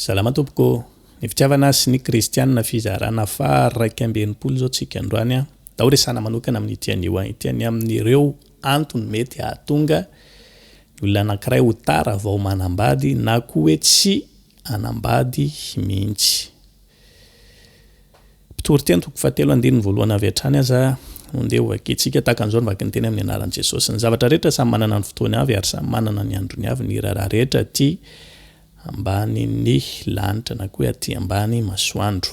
Salama tompoko ô! Ny fitiavana sy ny kristianina fizarana faha iraika amby enimpolo izao tsika androany an! Ndao resahana manokana amin ity anio an ity ny amin ireo antony mety hahatonga ny olona anankiray ho tara vao manambady na koa hoe tsy hanambady mihintsy. Mpitory teny toko fahatelo andininy voalohany avy hatrany aza no ndeha hovakitsika. Tahaka an'izao no vakin'ny teny amin'ny anaran'i Jesosy. Ny zavatra rehetra samy manana ny fotoany avy ary samy manana ny androny avy ny raharaha rehetra aty ambanin'ny lanitra na koa hoe aty ambany masoandro.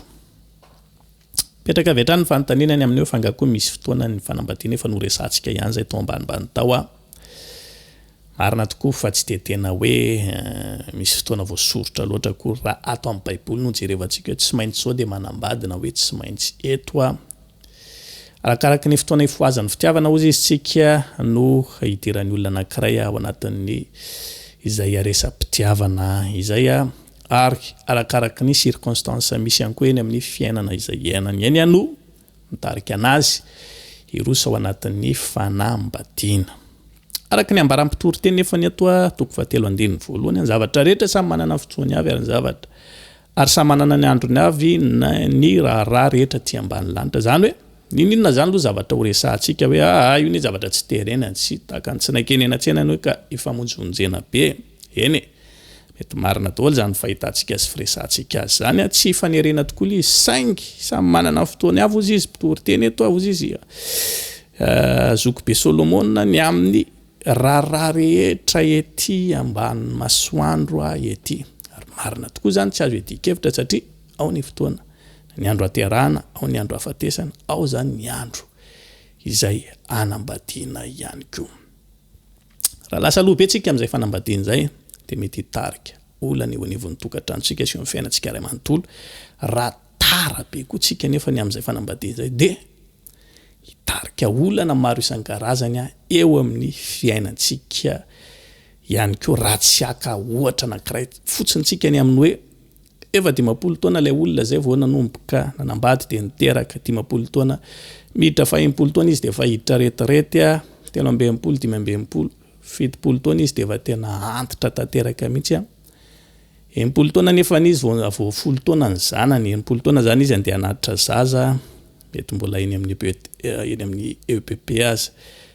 Mipetraka avy hatrany ny fanontaniana ny amin'io fa angaha koa misy fotoana ny fanambadiana efa noresahantsika ihany izay tao ambanimbany tao aho. Marina tokoa fa tsy dia tena hoe misy fotoana voasoritra loatra akory fa ato amin'ny baiboly no jerevantsika hoe tsy maintsy izao dia manambady na hoe tsy maintsy eto a arakaraky ny fotoana ifohazan'ny fitiavana ozy izy tsika no hidiran'ny olona anankiray ao anatin'ny izay aresa-pitiavana izay a ary arakaraky ny circonstance misy ihany koa eny amin'ny fiainana izay iainany eny iano Mitarika an'azy hiroso ao anatin'ny fanambadiana. Araka ny ambaran'ny mpitory teny efa ny atoa toko fahatelo andininy voalohany, ny zavatra rehetra samy manana ny fotoany avy ary ny zavatra ary samy manana ny androny avy ny raharaha rehetra aty ambany lanitra. Izany hoe, n'inon'inona izany aloha zavatra horesahantsika hoe aa io anie zavatra tsy terena, tsy takan'ny tsy nankeny eny an-tsena anie ka ifamonjimonjena be. Eny e! Mety marina daholo izany fahitantsika sy firesahantsika azy izany, tsy hifanerena tokoa ilay izy, saingy samy manana ny fotoany avy hozy izy, mpitory teny eto aho hozy izy, zokibe Solomona ny amin'ny raharaha rehetra ety ambanin'ny masoandro ahy ety, ary marina tokoa izany tsy azo iadian-kevitra satria ao ny fotoana, ny andro haterahana, ao ny andro hafatesana, ao izany ny andro izay hanambadiana ihany koa. Raha lasa aloha be tsika amin'izay fanambadiana izay dia mety hitarika olana eo anivon'ny tokantranontsika sy eo amin'ny fiainantsika iray manontolo. Raha tara be koa tsika nefa ny amin'izay fanambadiana izay dia hitarika olana maro isan-karazany eo amin'ny fiainantsika ihany koa raha tsy haka ohatra anankiray fotsiny tsika ny amin'ny hoe Efa dimampolo taona ilay olona izay vao nanomboka nanambady dia niteraka, dimampolo taona. Miditra faha-enimpolo taona izy dia efa hiditra retraite, telo amby enimpolo, dimy amby enimpolo, fitopolo taona izy dia efa tena antitra tanteraka mihitsy. Enimpolo taona nefa izy vao vao folo taona ny zanany, enimpolo taona izany izy andeha hanatitra zaza, mety mbola eny amin'ny EPP eny amin'ny EPP aza.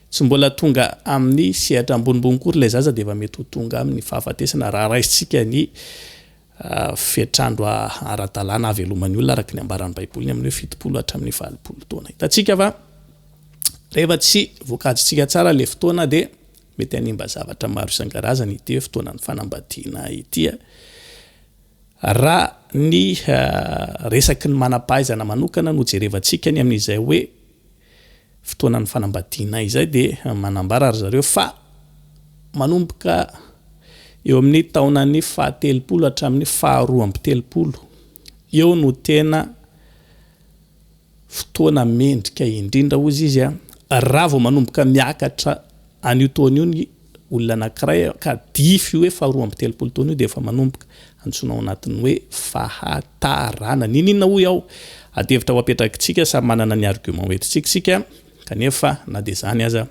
Tsy mbola tonga amin'ny sehatra ambonimbony koa ilay zaza dia efa mety ho tonga amin'ny fahafatesana raha raisintsika ny fetr'andro ara-dalàna haveloman'ny olona araka ny ambaran'ny Baiboly ny amin'ny hoe fitopolo hatramin'ny valopolo taona. Hitantsika fa rehefa tsy voakajintsika tsara ilay fotoana dia mety hanimba zavatra maro isan-karazany ity hoe fotoanan'ny fanambadiana ity. Raha ny resaky ny manam-pahaizana manokana no jerevantsika ny amin'izay hoe fotoanan'ny fanambadiana izay dia manambara ry zareo fa manomboka eo amin'ny taonan'ny fahatelopolo hatramin'ny faharoa amby telopolo eo no tena fotoana mendrika indrindra hozy izy a raha vao manomboka miakatra An'io taona io ny olona anankiray ka dify hoe faharoa amby telopolo taona io dia efa manomboka antsoina ao anatin'ny hoe fahataranana. Niniana hoy aho? Adihevitra ho apetrakitsika, samy manana ny argument ho entintsika isika, kanefa na dia izany aza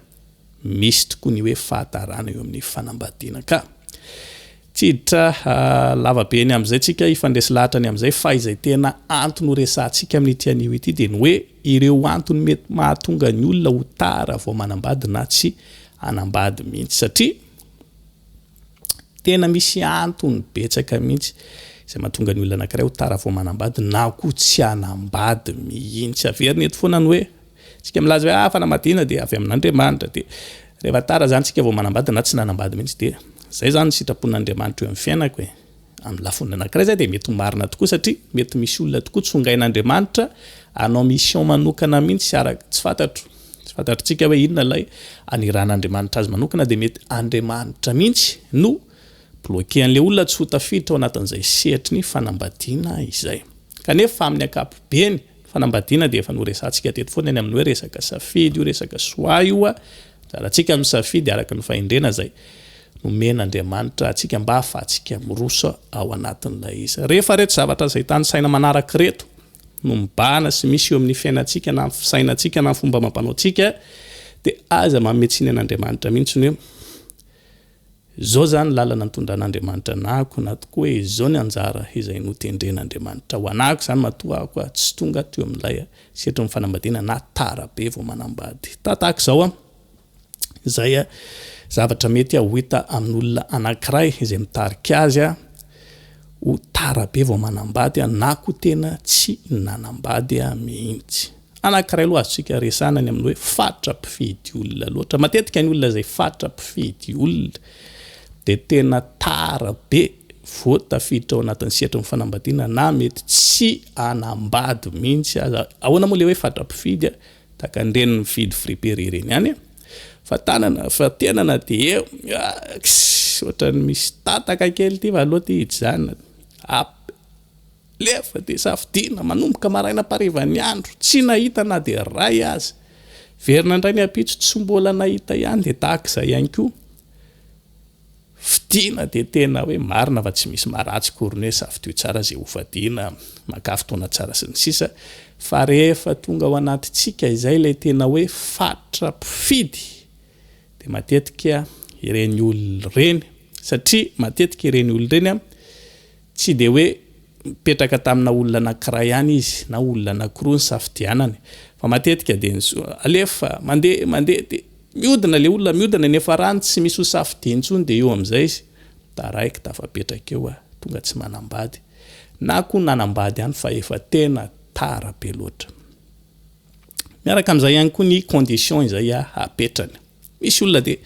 misy tokoa ny hoe fahataranana eo amin'ny fanambadiana ka. Tsy hiditra lava be ny amin'izay tsika hifandresy lahatra ny amin'izay fa izay tena antony ho resahantsika amin'ity anio ity dia ny hoe ireo antony mety mahatonga ny olona ho tara vao manambady na tsy hanambady mihitsy satria tena misy antony betsaka mihitsy izay mahatonga ny olona anankiray ho tara vao manambady na koa tsy hanambady mihitsy. Averina eto foana ny hoe Tsika milaza hoe ah fanamadiana dia avy amin'Andriamanitra dia rehefa tara zany tsika vao manambady na tsy nanambady mihitsy dia zay zany ny sitrapon'Andriamanitra eo amin'ny fiainako e amin'ny lafony anankiray zay dia mety ho marina tokoa satria mety misy olona tokoa tsongain'Andriamanitra anao mission manokana mihitsy araka tsy fantatro tsy fantatritsika hoe inona ilay aniran'Andriamanitra azy manokana dia mety Andriamanitra mihitsy no bloqué an'ilay olona tsy ho tafiditra ao anatin'izay sehatry ny fanambadiana izay kanefa amin'ny ankapobeny Fanambadiana dia efa noresahantsika teto foana eny amin'ny hoe resaka safidy io resaka choix io a, anjarantsika misafidy araka ny fahendrena izay nomen'Andriamanitra antsika mba hahafahantsika miroso ao anatin'ilay izy. Rehefa ireto zavatra izay tanisaina manaraka ireto no mibahana sy misy eo amin'ny fiainantsika na ny fisainantsika na ny fomba amam-panaontsika dia aza manome tsiny an'Andriamanitra mihitsy ny hoe Izao zany lalana nitondran'Andriamanitra anahako na tokoa hoe izao ny anjara izay notendren'Andriamanitra ho anahako izany matoa aho koa tsy tonga teo amin'ilay setrin'ny fanambadiana na tara be vao manambady ta tahaka izao an! izay zavatra mety ho hita amin'olona anankiray izay mitarika azy an! ho tara be vao manambady an! na koa tena tsy nanambady an! mihitsy. Anankiray aloha azontsika resahana ny amin'ny hoe faritra mpifidy olona loatra. Matetika ny olona izay faritra mpifidy olona dia tena tara be vao tafiditra ao anatin'ny sehatry ny fanambadiana na mety tsy hanambady mihitsy aza. Ahoana moa ilay hoe faritra mpifidy? Tahaka an'ireny mividy friperie ireny ihany. Fa tanana, fa tenana dia eo. Ohatran'ny misy tataka kely ity fa aleo ity hijanona. Lefa dia safidiana, manomboka maraina am-parivan'ny andro, tsy nahita na dia iray aza. Hiverina indray ny ampitso, tsy mbola nahita ihany, dia tahaka izay ihany koa. Fidiana dia tena hoe marina fa tsy misy maharatsy akory ny hoe safidio tsara izay hofadiana, makà fotoana tsara sy ny sisa, fa rehefa tonga ao anatintsika izay ilay tena hoe faritra mpifidy dia matetika ireny olona ireny, satria matetika ireny olona ireny Tsy dia hoe nipetraka tamina olona anankiray ihany izy na olona anankiroa nisafidianany fa matetika dia ny soa, alefa, mandeha, mandeha dia miodina ilay olona, miodina eny farany tsy misy ho safidiany intsony dia eo amin'izay izy taraiky tafapetraka eo a, tonga tsy manambady na koa nanambady ihany fa efa tena tara be loatra. Miaraka amin'izay ihany koa ny condition izay apetrany. Misy olona dia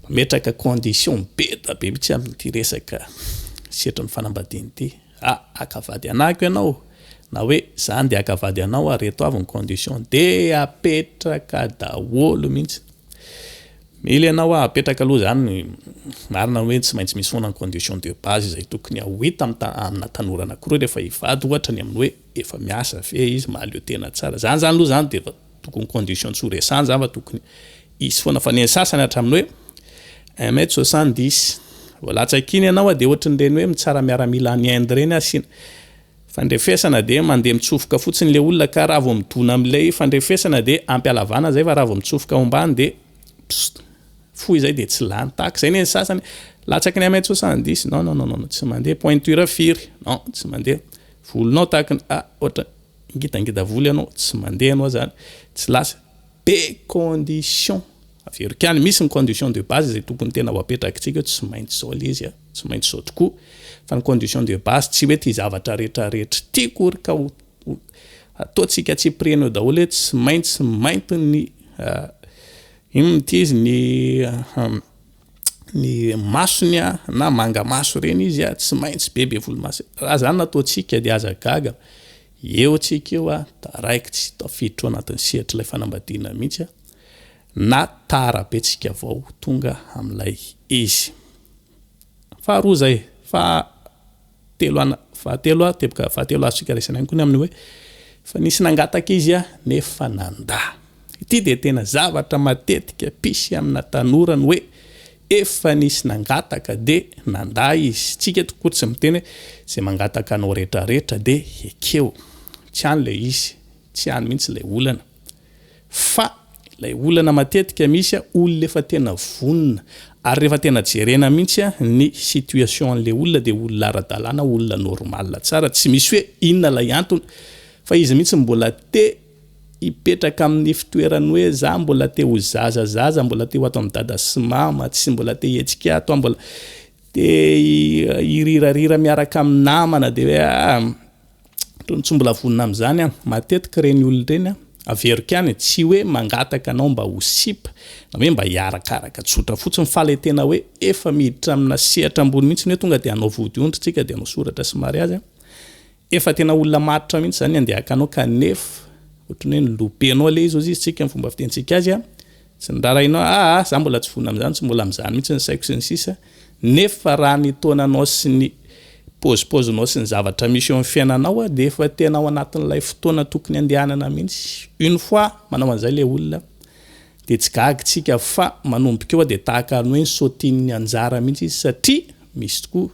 mametraka condition be dia be mihitsy amin'ity resaka setrin'ny fanambadiana ity. Ah, haka vady anahiko ianao na hoe za handeha haka vady anao ary reto avy ny condition dia apetraka daholo mihitsy. Mila ianao apetraka aloha izany ny marina hoe tsy maintsy misy foana ny condition de base izay tokony ho hita amina tanora anankiroa rehefa hivady ohatra ny amin'ny hoe efa miasa ve izy, mahaleo tena tsara, zany zany aloha zany de efa tokony condition tsy ho resany zany fa tokony hisy foana fa neny sasany hatramin'ny hoe un mètre soixante dix vao latsaka iny ianao de ohatry ny reny hoe mitsara miaramila any Inde reny asiana fandrefesana de mandeha mitsofoka fotsiny le olona ka raha vao midona am'ilay fandrefesana de ampialavana zay fa raha vao mitsofoka ao ambany de pst fohy zay de tsy lany tahaka zay neny sasany latsaky ny un mètre soixante dix non non non non tsy mandeha pointure firy non tsy mandeha Volonao tahaka ny a ohatra ngitangita volo ianao tsy mandeha ianao zany tsy lasa de condition averiko ihany misy ny condition de base zay tokony tena ho apetrakitsika eo tsy maintsy zao le izy a tsy maintsy zao tokoa fa ny condition de base tsy hoe ty zavatra rehetra rehetra ty akory ka ho ataontsika tsy prena eo daholo hoe tsy maintsy mainty ny inona ty izy ny ny masony a na manga maso ireny izy a tsy maintsy be be volomasy raha zany no ataontsika dia aza gaga eo tsika eo a taraiky tsy tafiditra ao anatin'ny sehatry ilay fanambadiana mihitsy a na tara be tsika vao tonga amin'ilay izy faharoa zay fa telo ana fahatelo a teboka fahatelo azontsika raisina ihany koa ny amin'ny hoe fa nisy nangataka izy a nefa nandà ity dia tena zavatra matetika pisy amina tanora ny hoe efa nisy nangataka dia nandà izy tsika eto koa tsy miteny hoe zay mangataka anao retraretra dia ekeo tsy any le izy tsy any mihitsy ilay olana Fa ilay olana matetika misy a, olona efa tena vonona, ary rehefa tena jerena mihitsy a, ny situation an'ilay olona dia olona ara-dalàna, olona normal tsara, tsy misy hoe inona ilay antony, fa izy mihitsy mbola te hipetraka amin'ny fitoeran'ny hoe za mbola te ho zaza zaza, mbola te ho ato amin'i dada sy mama, tsy mbola te hihetsika ato aho, mbola te hihirihirarira miaraka amin'ny namana, dia hoe aa. Tony tsy mbola vonona amin'izany aho. Matetika ireny olona ireny an, averiko ihany e, tsy hoe mangataka anao mba ho sipa na hoe mba hiarakaraka, tsotra fotsiny fa ilay tena hoe efa miditra amina sehatra ambony mihitsy hoe tonga dia hanao vodiondry tsika dia hanao soratra sy mariazy an, efa tena olona matotra mihitsy izany ny handehakanao kanefa ohatran'ny hoe nolopenao ilay izy, hoy izy isika amin'ny fomba fitenintsika azy an, Tsy norarainao a a, za mbola tsy fona amizany, tsy mbola mizany mihitsy ny saiko sy ny sisa, nefa raha ny taonanao sy ny pôzipôzinao sy ny zavatra misy eo am fiainanao dia efa tena ao anatin'ilay fotoana tokony andehanana mihitsy, une fois manao an'izay le olona dia tsy gaga tsika fa manomboka eo dia tahaka ny hoe nisaotin'ny anjara mihitsy izy satria misy tokoa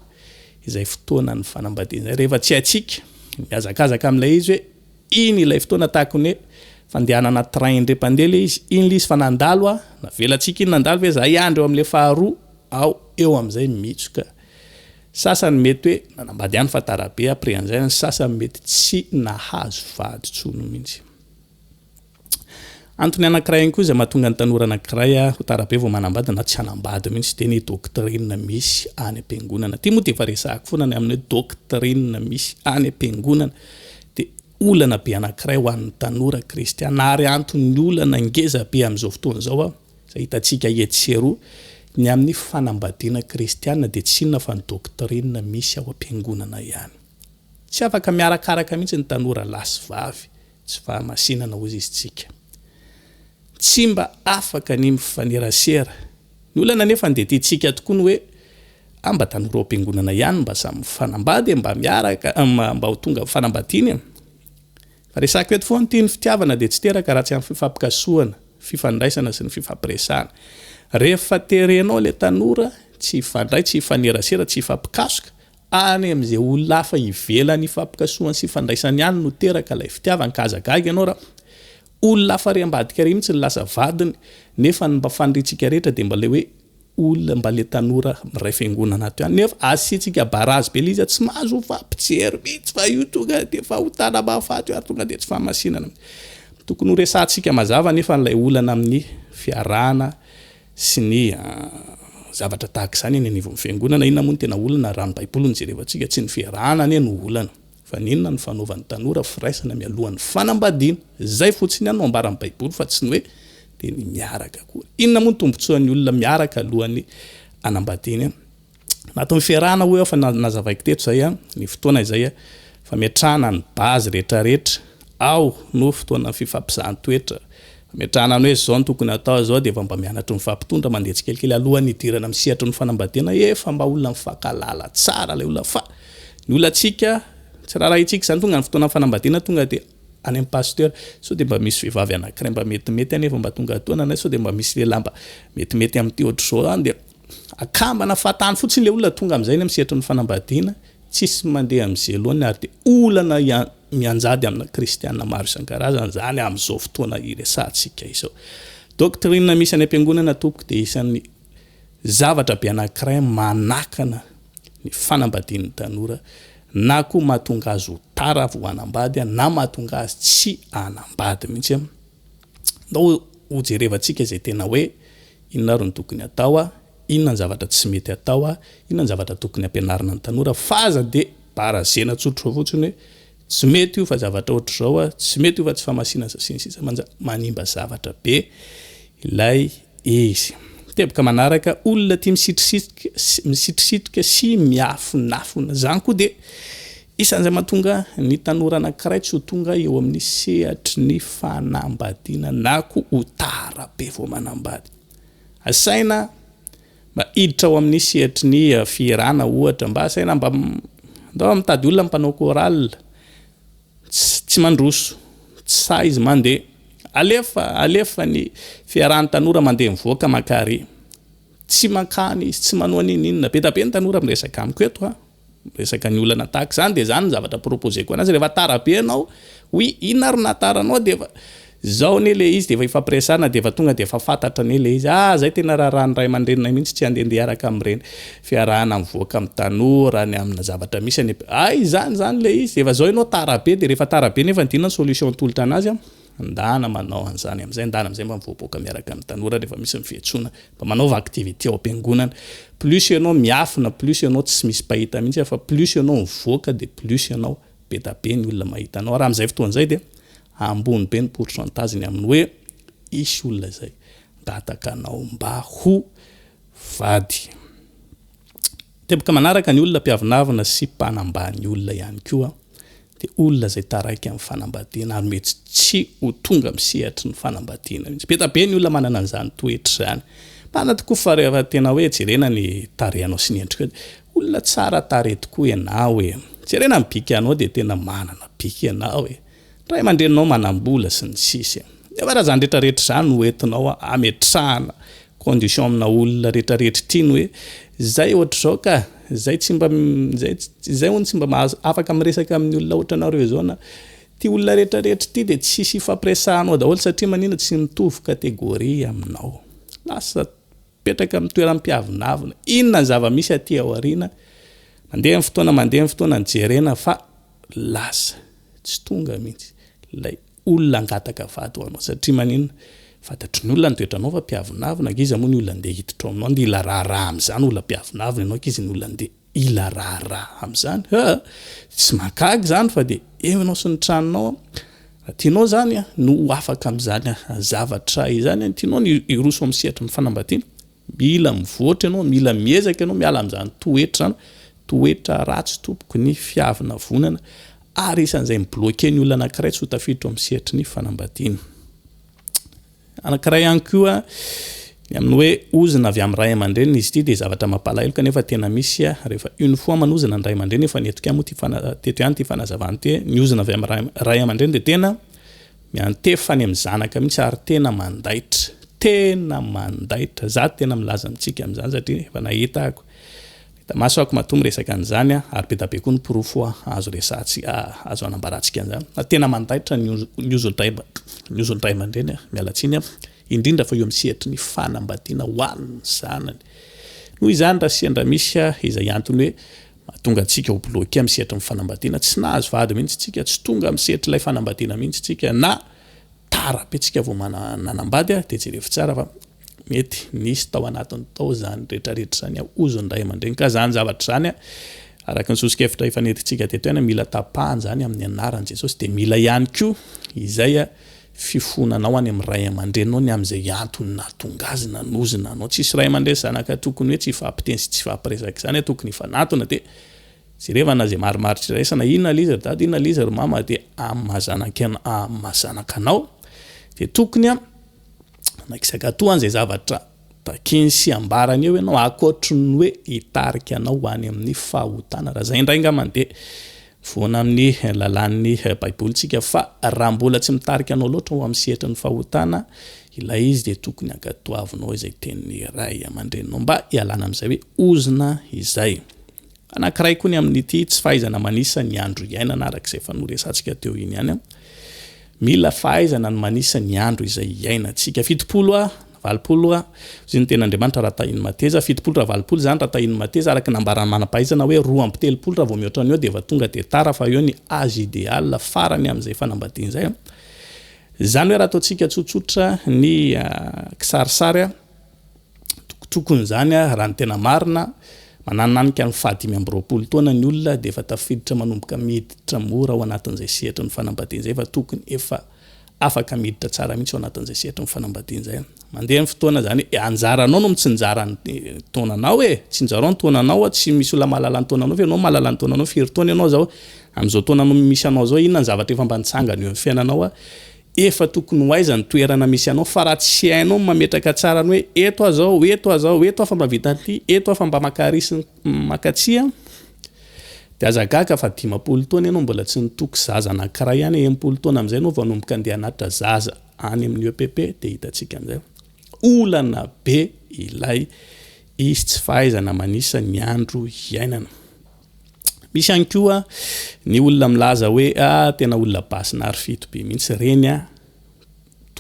izay fotoanan'ny fanambadiana izay rehefa tsy haintsika mihazakazaka amin'ilay izy hoe Iny ilay fotoana tahaka ny hoe fandehanana train indray mpandeha ilay izy, iny ilay izy fa nandalo aho, navelantsika iny nandalo ve za hiandry eo amin'ilay faharoa, aho eo amin'izay mitsoka. Sasany mety hoe nanambady ihany fa tara be après an'izay, ny sasany mety tsy nahazo vady intsony mihitsy. Antony anankiray ihany koa izay mahatonga ny tanora anankiray ho tara be vao manambady na tsy hanambady mihitsy dia ny doctrine misy any am-piangonana. Ity moa dia efa resahako foana ny amin'ny hoe doctrine misy any am-piangonana dia olana be anankiray ho an'ny tanora kristiana ary anton'ny olana ngeza be amin'izao fotoana izao aho izay hitantsika etsy sy eroa ny amin'ny fanambadiana kristiana dia tsy inona fa ny doctrine misy ao am-piangonana ihany. Tsy afaka miarakaraka mihitsy ny tanora lahy sy vavy Tsy fahamasinana hozy izy tsika. Tsy mba afaka ny mifanerasera. Ny olana anefa dia tiantsika tokoa ny hoe ah mba tanora ao am-piangonana ihany mba samy mifanambady e, mba miaraka, mba ho tonga fanambadiana e. Fa resako eto foana ity, ny fitiavana dia tsy teraka raha tsy amin'ny fifampikasohana, fifandraisana sy ny fifampiresahana. Rehefa terenao ilay tanora tsy hifandray, tsy hifanerasera, tsy hifampikasoka, Any amin'izay olona hafa ivelany ifampikasohany sy ifandraisany ihany no teraka ilay fitiavana ka aza gaga ianao raha olona hafa ary ambadika ary mihitsy no lasa vadiny nefa ny mba faniriantsika rehetra dia mba ilay hoe olona mba ilay tanora iray fiangonana ato ihany nefa asiantsika barazy be ilay izy tsy mahazo mifampijery mihitsy fa io tonga dia fahotana mahafaty io ary tonga dia tsy fahamasinana mihitsy tokony horesahantsika mazava nefa ilay olana amin'ny fiarahana sy ny zavatra tahaka izany eny anivon'ny fiangonana, inona moa no tena olana raha ny baiboly no jerevantsika, tsy ny fiarahana anie no olana fa ny inona no fanaovan'ny tanora firaisana mialohan'ny fanambadiana, izay fotsiny ihany no ambaran'ny baiboly fa tsy ny hoe dia ny miaraka akory, inona moa ny tombotsoan'ny olona miaraka alohan'ny hanambadiany an? Nataony fiarahana hoy aho fa nazavaiko teto izay ny fotoana izay fametrahana ny base retraretra ao no fotoana fifampizahan-toetra fametrahana ny hoe zao no tokony atao zao dia efa mba mianatry ny fampitondra mandeha tsikelikely alohan'ny hidirana amin'ny sehatry ny fanambadiana efa mba olona mifankalala tsara ilay olona fa ny olantsika tsy raharahintsika izany tonga ny fotoana fanambadiana tonga dia any amin'ny pasteur sao dia mba misy vehivavy anankiray mba metimety anefa mba tonga atoana na sao dia mba misy lehilahy mba metimety amin'ity ohatr'izao any dia Akambana fahatany fotsiny le olona tonga amizay any am sehatry ny fanambadiana, tsisy mandeha am zelo ny ary de olana mianjady amina kristiana maro isankarazany zany am zao fotoana iresahantsika izao. Doctrine misy any ampiangonana tompoko de isan'ny zavatra be anakiray manakana ny fanambadian'ny tanora na koa mahatonga azy ho tara vo hanambady na mahatonga azy tsy hanambady mintsy Ndao hojerevantsika izay tena hoe inona ary no tokony atao, inona ny zavatra tsy mety atao, inona ny zavatra tokony ampianarina ny tanora fa aza dia barazena tsotra fotsiny hoe tsy mety io fa zavatra ohatr'izao, tsy mety io fa tsy fahamasinan sy ny sisa manimba zavatra be ilay Izy. Teboka manaraka olona tia misitrisitrika sy miafonafona. Zany koa dia isan izay mahatonga ny tanora anankiray tsy ho tonga eo amin'ny sehatry ny fanambadiana na koa ho tara be vao manambady. Asaina mba hiditra ao amin'ny sehatry ny fihirana ohatra, mba asaina mba ndao mitady olona mpanao chorale, Tsy mandroso. Tsy sahy izy mandeha. Alefa, alefa ny fiarahan'ny tanora mandeha mivoaka mankary. Tsy mankany izy, tsy manao n'inon'inona. Be da be ny tanora miresaka amiko eto an. Miresaka ny olana tahaka izany. Dia izany ny zavatra proposer-ko anazy. Rehefa tara be ianao, oui, inona ary no nahatara anao? Dia efa, Zao anie le izy de efa ifampiresahana de efa tonga de efa fantatra anie le izy ah zay tena raharaha ny ray aman-dreninay mihitsy tsy handehandeha hiaraka amin'ireny fiarahana mivoaka amin'ny tanora ny amina zavatra misy any ah izany izany le izy efa zao ianao tara be de rehefa tara be nefa ndinona ny solution atolotra anazy an ndana manao an'izany amin'izay ndana amin'izay mba mivoaboaka miaraka amin'ny tanora rehefa misy ny fiantsoana mba manaova activité ao am-piangonana plus ianao miafina plus ianao tsy misy mpahita mihitsy fa plus ianao mivoaka de plus ianao be da be ny olona mahita anao ary amin'izay fotoana izay dia ambony be ny pourcentage ny amin'ny hoe hisy olona izay mpangataka anao mba ho vady teboka manaraka ny olona mpiavonavona sy mpanambany olona ihany koa de olona izay taraiky amin'ny fanambadiana ary mety tsy ho tonga amin'ny sehatry ny fanambadiana mihitsy be da be ny olona manana an'izany toetra izany marina tokoa fa rehefa tena hoe jerena ny tarehanao sy ny endrikao Olona tsara tarehy tokoa ianao e! Jerena ny bikanao dia tena manana bika ianao e! Ny ray aman-dreninao manam-bola sy ny sisa. Nefa raha izany rehetra rehetra izany no entinao ametrahana condition amina olona rehetra rehetra ity ny hoe izay ohatr'izao ka! izay tsy mba izay izay hono tsy mba mahazo afaka miresaka amin'ny olona ohatranareo izao na ity olona rehetra rehetra ity dia tsisy ifampiresahanao daholo satria manina tsy mitovy catégorie aminao. Lasa. Mipetraka amin'ny toeram-piavonavona. Inona ny zava-misy aty aoriana? Mandeha ny fotoana, mandeha ny fotoana ny jerena fa lasa, tsy tonga mihitsy ilay olona hangataka vady ho anao. Satria maninona? Fantatry ny olona ny toetranao fa mpiavonavona, ankizy moa ny olona handeha hiditra ao aminao, nila raharaha amin'izany olona mpiavonavona ianao ankizy ny olona handeha. Ila raharaha amzany ah! Tsy mahagaga izany fa dia eo ianao sy ny tranonao an! Raha tianao izany an, no ho afaka amin'izany zavatra izany an, tianao ny hiroso amin'ny sehatry fanambadiana, mila mivoatra ianao, mila miezaka ianao miala amin'izany toetra izany, toetra ratsy tompoko ny fiavonavonana ary isan'izay mi-bloquer ny olona anankiray tsy ho tafiditra ao amin'ny sehatry ny fanambadiana. Anankiray ihany koa ny amin'ny hoe ozona avy amin'ny ray aman-dreniny, izy ity dia zavatra mampalahelo kanefa tena misy rehefa une fois manozona ny ray aman-dreny, efa nentiko ihany moa ity fana- teto ihany ity fanazavana ity hoe ny ozona avy amin'ny ray ray aman-dreny dia tena miantefa any amin'ny zanaka mihitsy ary tena mandaitra, tena mandaitra, za tena milaza amintsika amin'izany satria efa nahita aho ko. Maso ako matoa miresaka an'izany a, ary be da be koa ny porofo azo resahantsika, azo anambarantsika an'izany. Fa tena mandaitra ny ny ozon-dRay dRay aman-dReny a, miala tsiny a, indrindra fa eo amin'ny sehatry ny fanambadiana ho an'ny zanany. Noho izany raha sendra misy a, izay antony hoe mahatonga antsika ho bloquer amin'ny sehatry ny fanambadiana, tsy nahazo vady mihitsy tsika, tsy tonga amin'ny sehatr'ilay fanambadiana mihitsy tsika, na tara be tsika vao mana nanambady a, dia jerevo tsara fa Mety nisy tao anatiny tao izany rehetrarehetra izany ao hozy ny ray aman-dreny. Ka izany zavatra izany, araka ny soso-kevitra efa nentintsika teto ihany, mila tapahana izany amin'ny anaran'i Jesosy. Dia mila ihany koa izay fifonanao any amin'ny ray aman-dreninao ny amin'izay antony nahatonga azy nanozona anao. Tsisy ray aman-dreny sy zanaka tokony hoe tsy hifampiteny sy tsy hifampiresaka izany, tokony hifanatona. Dia jerevana izay marimaritra iraisana, inona ilay izy ry dada, inona ilay izy ry mama, dia amin'ny maha zanakanao. Dia tokony. Nagisakatoa an'izay zavatra takiny sy ambarany eo ianao akoatry ny hoe hitarika anao ho any amin'ny fahotana. Raha izay indray angambany dia mivoana amin'ny lalàn'ny Baiboly isika fa raha mbola tsy mitarika anao loatra ho amin'ny sehatry ny fahotana ilay izy dia tokony hankatoavinao izay tenin'ny ray aman-dreninao mba hialana amin'izay hoe ozona izay. Anankiray koa ny amin'ity tsy fahaizana manisa ny andro iainana araka izay efa noresatsika teo iny ihany. Mila fahaizana ny manisa ny andro izay iainantsika. Fitopolo a, valopolo ra, hozy ny tenin'Andriamanitra raha tahin'ny mateza, fitopolo ra valopolo izany raha tahin'ny mateza, araka ny nambaran'ny manam-pahaizana hoe roa amby telopolo raha vao mihoatra an'io dia efa tonga dia tara fa eo ny age ideal farany amin'izay fanambadiana izay. Izany hoe raha ataontsika tsotsotra ny kisarisary a, Tokony izany raha ny tena marina, manananika ny faha dimy amby roapolo taona ny olona dia efa tafiditra manomboka miditra mora ao anatin'izay sehatry ny fanambadiana izay fa tokony efa afaka miditra tsara mihitsy ao anatin'izay sehatry ny fanambadiana izay. Mandeha ny fotoana izany, anjaranao no mitsinjara ny taonanao e! Tsinjarao ny taonanao a, tsy misy olona mahalala ny taonanao fa ianao no mahalala ny taonanao, firy taona ianao izao, amin'izao taona misy anao izao inona ny zavatra efa mba nitsangana eo amin'ny fiainanao a, Efa tokony ho aiza ny toerana misy anao fa raha tsy hainao ny mametraka tsara ny hoe eto aho zao, eto aho zao, eto aho fa mba vita ny lia, eto aho fa mba maka ary sy maka tsia, dia aza gaga fa dimampolo taona ianao mbola tsy nitoky zaza anankiray ihany, enimpolo taona amin'izay ianao vao hanomboka andeha hanatitra zaza any amin'ny EPP dia hitantsika amin'izay fa olana be ilay izy tsy fahaizana manisa ny andro iainana. Misy ihany koa ny olona milaza hoe ah tena olona basy narfito be mihitsy reny ah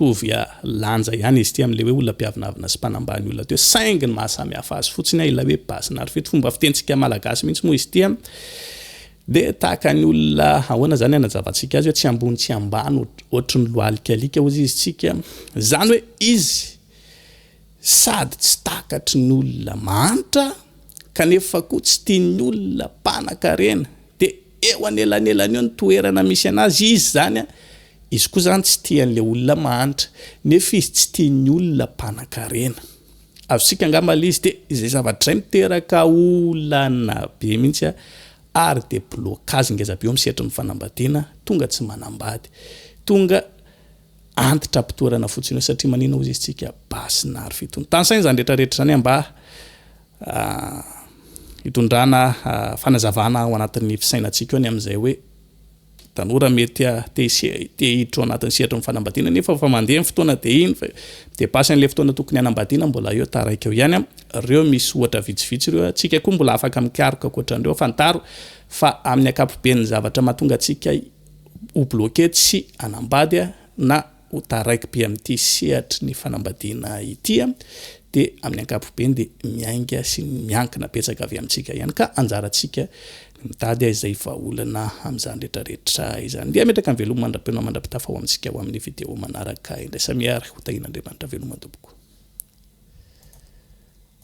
mitovy ah, lanja ihany izy ity amin'le hoe olona mpiavonavona sy mpanambany olona teo saingy ny mahasamy hafa azy fotsiny ah ilay hoe basy narfito fomba fitentsika malagasy mihitsy moa izy ity ah dia tahaka ny olona ahoana zany anajavantsika azy hoe tsy ambony tsy ambany ohatry ny loalikalika hozy izy tsika zany hoe izy Sady tsy takatry ny olona mahantra kanefa koa tsy tian'ny olona mpanan-karena dia eo anelanelan'io ny toerana misy an'azy izy izany, izy koa izany tsy tia an'ilay olona mahantra nefa izy tsy tian'ny olona mpanan-karena. Azontsika angamba ilay izy dia izay zavatra izay miteraka olana be mihitsy ary dia blocage ngeza be eo amin'ny sehatry ny fanambadiana tonga tsy manambady, tonga antitra am-pitoerana fotsiny eo satria maninona ozy izy tsika basy na ary fitony tansaina izany rehetra rehetra izany mba hitondrana fanazavana ao anatin'ny fisainantsika eo ny amin'izay hoe tanora mety te hiditra ao anatin'ny sehatry ny fanambadiana nefa fa mandeha ny fotoana dia iny fa dia basy an'ilay fotoana tokony hanambadiana mbola eo taraiky eo ihany ireo misy ohatra vitsivitsy ireo atsika koa mbola afaka mikaroka ankoatran'ireo fantaro fa amin'ny akapoben'ny zavatra mahatonga antsika ho bloquer tsy hanambady na ho taraiky-be amin'ity sehatry ny fanambadiana ity dia amin'ny ankapobeny dia miainga sy miankina betsaka avy amintsika ihany ka anjarantsika ny mitady izay vahaolana amin'izany rehetrarehetra izany. Dia ametraka ny veloma mandra-peo mandra-pitafa ho amintsika ho amin'ny video manaraka indray. Samia ary ho tahian'Andriamanitra veloma tompoko.